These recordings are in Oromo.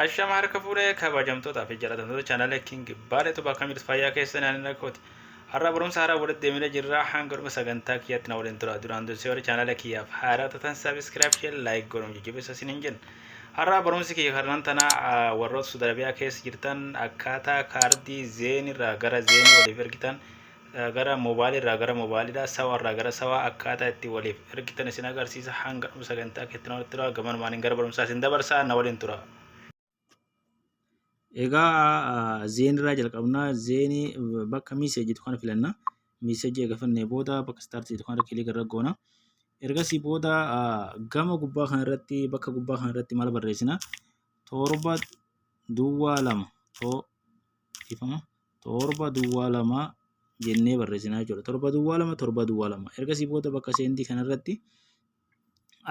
Ashama harka fuudhee kabajamtoota fi jalatamtoota chaanala King Baalee Tubaa akkam jirtu fayyaa keessan ani rakkooti. Har'a barumsa haaraa walitti deemnee jirra hanga dhuma sagantaa kiyyaatti na waliin tura. Duraan dursee warri chaanala kiyyaaf haaraa tatan sabiskiraayib shee laayik godhuun jajjabeessa isin hin jenna. Har'a barumsi kiyya karnan tana warroota Suudi Arabiyaa keessa jirtan akkaataa kaardii zeenirraa gara zeenii waliif ergitan gara mobile irraa gara mobile dha sawa irraa gara sawa akkaataa itti waliif ergitan isin agarsiisa hanga dhuma sagantaa keetti nama tura gaman maaniin gara barumsaa isin dabarsaa na waliin tura. Egaa zeen irraa jalqabnaa zeenii bakka miiseejii jedhu kana filanna miiseejii egaa filannee booda bakka istaartii jedhu kana kilii irra goona. Ergasii booda gama gubbaa kana irratti bakka gubbaa kana irratti maal barreessina torba duwwaa lama too ifama torba duwwaa lama jennee barreessinaa jechuudha. Torba duwwaa lama torba duwwaa lama. Ergasii booda bakka seendii kanarratti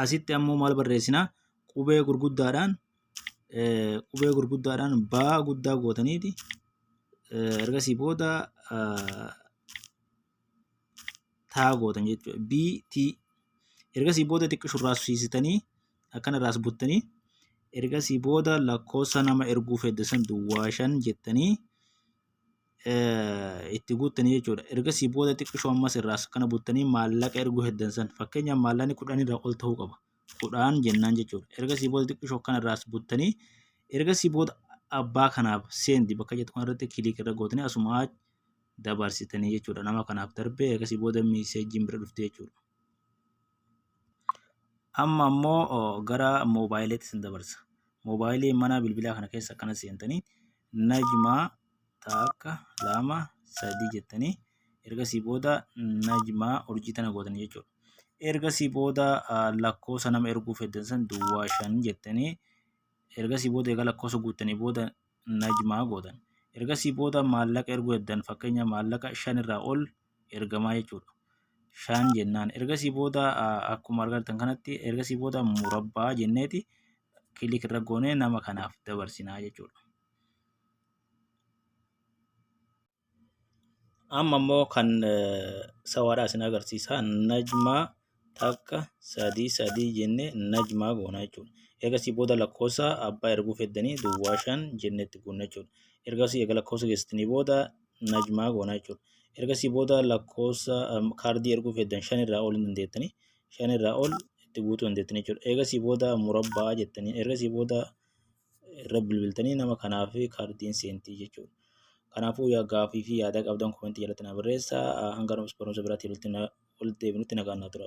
asitti ammoo maal barreessinaa qubee gurguddaadhaan qubee gurguddaadhaan baa guddaa gootaniiti ergasii booda taa gootan jechuudha. BT ergasii booda xiqqoo shurraasisiisitanii akkana irraas buttanii ergasii booda lakkoofsa nama erguu fedde san duwwaa shan jettanii itti guuttanii jechuudha. Ergasii booda xiqqoo ammas irraas akkana buttanii maallaqa erguu heddan san fakkeenyaaf maallaqni kudhan irraa ol ta'uu qaba. Kudhaan jennaan jechuudha. Ergasii booda xiqqoo akkana irraas buttanii ergasii booda abbaa kanaaf seendi bakka jettu kanarratti kiliik irra gootanii asumaa dabarsitanii jechuudha nama kanaaf darbee akkasii booda miiseejiin bira dhufte jechuudha. Amma ammoo gara moobaayiliitti sin dabarsa. Moobaayilii mana bilbilaa kana keessa akkana seentanii najmaa takka lama sadii jettanii ergasii booda najmaa urjii tana gootanii jechuudha. Ergasii booda lakkoofsa nama erguuf heddan san duwwaa shan jettanii ergasii booda egaa lakkoofsa guuttanii booda najmaa gootan. Ergasii booda maallaqa erguu eddan fakkeenya maallaqa shan irraa ol ergamaa jechuudha. Shan jennaan ergasii booda akkuma argattan kanatti ergasii booda murabbaa jenneeti kilik irra goonee nama kanaaf dabarsinaa jechuudha. Amma immoo kan sawaadhaa isin agarsiisa. Najmaa takka sadii sadii jennee najmaa goona jechuudha. Eegasii booda lakkoofsa abbaa erguu feddanii duwwaa shan jennee itti goona jechuudha. Ergasii eega lakkoofsa geessitanii booda najmaa goona jechuudha. Ergasii booda lakkoofsa kaardii erguu feddan shan irraa ol hin dandeettanii shan irraa ol itti guutuu dandeettanii jechuudha. Eegasii booda murabbaa jettanii ergasii booda irra bilbiltanii nama kanaaf kaardiin seentii jechuudha. Kanaafuu yaa gaafii fi yaada qabdan komentii jalatti na barreessa. Hanga barumsa biraatti walitti deebinutti nagaan naa tura.